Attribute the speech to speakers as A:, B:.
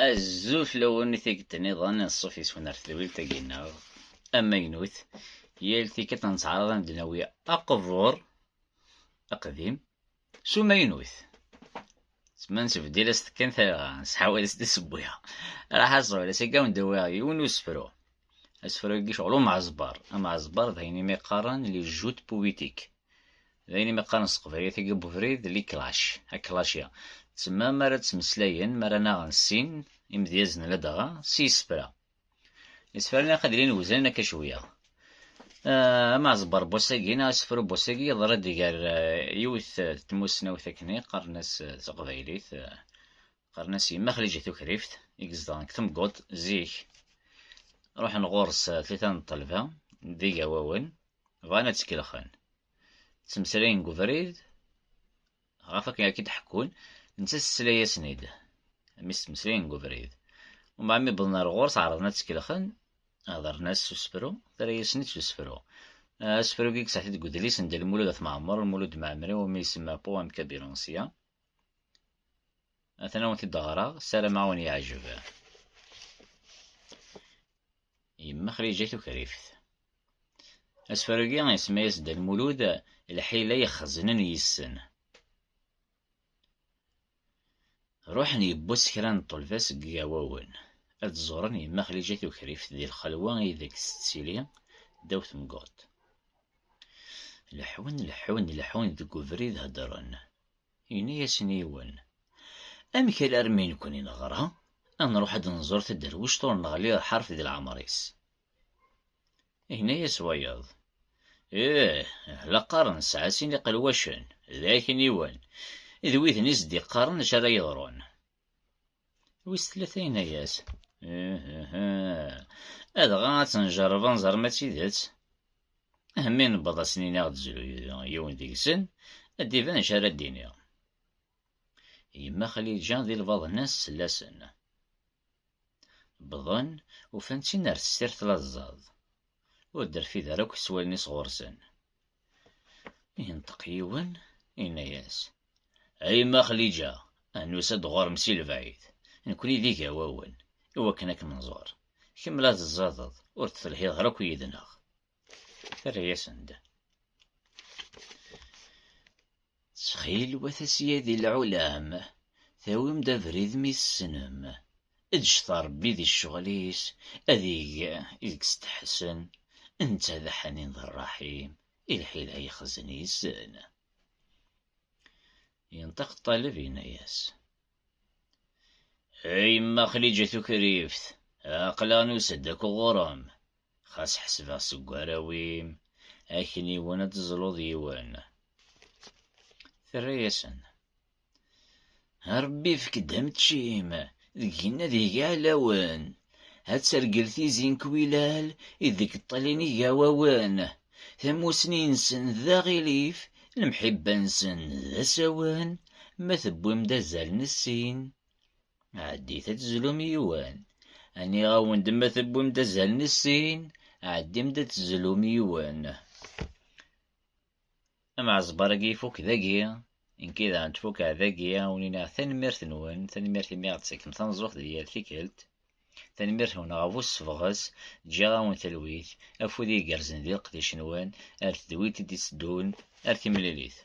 A: Azul fell-awen i tikkelt niḍen n ṣṣuf yeswan ar tedwilt-agi-nneɣ amaynut. Yal tikkelt nettɛaraḍ ad d-nawi aqbur aqdim s umaynut. Tma nesbedil-as-d kan talɣa, nesḥawal-as-d isewwi. Raḥ aẓul, ass-agi ad wen-d-awiɣ yiwen n usefru. asefru-agi ceɣl umɛazbar amɛazbar d ayen imi qqaren li jut puwitik d ayen imi qqaren s teqbaylit agi bubrid li klac aklac-ya tsemma mi ara ttmeslayen mi ara naɣen sin imedyazen ladɣa s yisefra isefra-nni ilaq ad ilin weznen akka cwiya amɛazbar bwass-agi neɣ asefru bwass-agi yeḍra-d gar yiwet tmussnawt akken i qqaren-as s teqbaylit Qqaren-as yemma Xlija Tukrift i izedɣen deg Temguḍt zik. Ruḥen ɣur-s tlita n ṭṭelba d igawawen bɣan ad tkelxen. Ttmeslayen deg ubrid ɣef akken akka d-ḥekkun netta tesla-yasen-id mi ttmeslayen deg ubrid. Umbeɛd mi wwḍen ar ɣur-s ɛerḍen ad tkelxen hedren-as s usefru terra-yasen-id s usefru. Asefru-agi yesaɛet-id deg udlis n Dda Lmulud At Mɛemmer, Lmulud Mɛemmri, umi isemma Poème Cabilanciens. atan awen t-id ɣreɣ sarameɣ awen yeɛjeb yemma xrija tukrift asfarugi isma-yas Dda Lmulud lḥila yexznen yissen ruḥen yewwas kra n ṭṭelba seg yigawawen ad ẓuren yemma xrija tukrift di lxelwa ideg tettili ddaw temguḍt leḥun leḥun leḥun deg ubrid heddren Yenna-yasen yiwen, Amek alarmi i nekni neɣra, ad nruḥ ad d-nẓur taderwict ur neɣli ur ḥaref di leɛmer-is? Yenna-yas wayeḍ, Ih, la qqaren nesɛa sin iqelwacen, d akniwen, d widen i s-d-iqqaren acu ara yeḍrun. Wis tlata yenna-yas, Adɣa ad tenjerreb anẓer ma d tidet. Ahammi newweḍ ad sen-iniɣ ad d-zru yiwen deg-sen, ad d-iban acu ara d-iniɣ. Yemma Xliǧa di lbaḍna-s sella-sen. Wwḍen, ufan-tt-in ar tessirt laẓẓaḍ. Ur d-terfid ara akk s wallen-is ɣur-sen. Yenṭeq yiwen, yenna-yas, A yemma Xliǧa, ad nusa-d ɣur-m si lebɛid, nekkni d igawawen, i wakken ad kem-nẓur, kemm la teẓẓadeḍ, ur d-telhiḍ ara akk yid-neɣ. Terra-yasen-d. Ttxil-wet a syadi lɛulam, tawim-d abrid mi tessnem. Eǧǧet Ṛebbi di ccɣel-is, ad ig i deg-steḥsen, netta d aḥnin d ṛṛaḥim, i lḥila yexzen yessen. Yenṭeq ṭṭaleb, yenna-yas. A yemma Xliǧa Tukrift, aql-aɣ nusa-d akk ɣur-m. Xas ḥesbeɣ seg warraw-im, akniwen ad teẓluḍ yiwen. Terra-yasen. Rebbi ifek-d ameččim, deg-n ad ig iɛlawen. ad tergel tizi n Kwilal i deg ṭṭalin igawawen, tamussni-nsen d aɣilif, lemḥibba-nsen d asawen, ma tewwim-d azal n sin, ɛeddit ad tezlum yiwen, nniɣ-awen-d ma tewwim-d azal n sin, ɛeddim-d ad tezlum yiwen. Amɛezbar-agi ifuk dagi, nekki daɣen tfukeɛ dagi, awen-iniɣ tanemmirt-nwen, tanemmirt imi aɣ-d-tettakkem tameẓẓuɣt di yal tikkelt, tanemmirt-nwen ɣef ussebɣes, ǧǧiɣ-awen talwit, afud igerrzen di leqdic-nwen, ar tedwilt i d-itteddun, ar timlilit.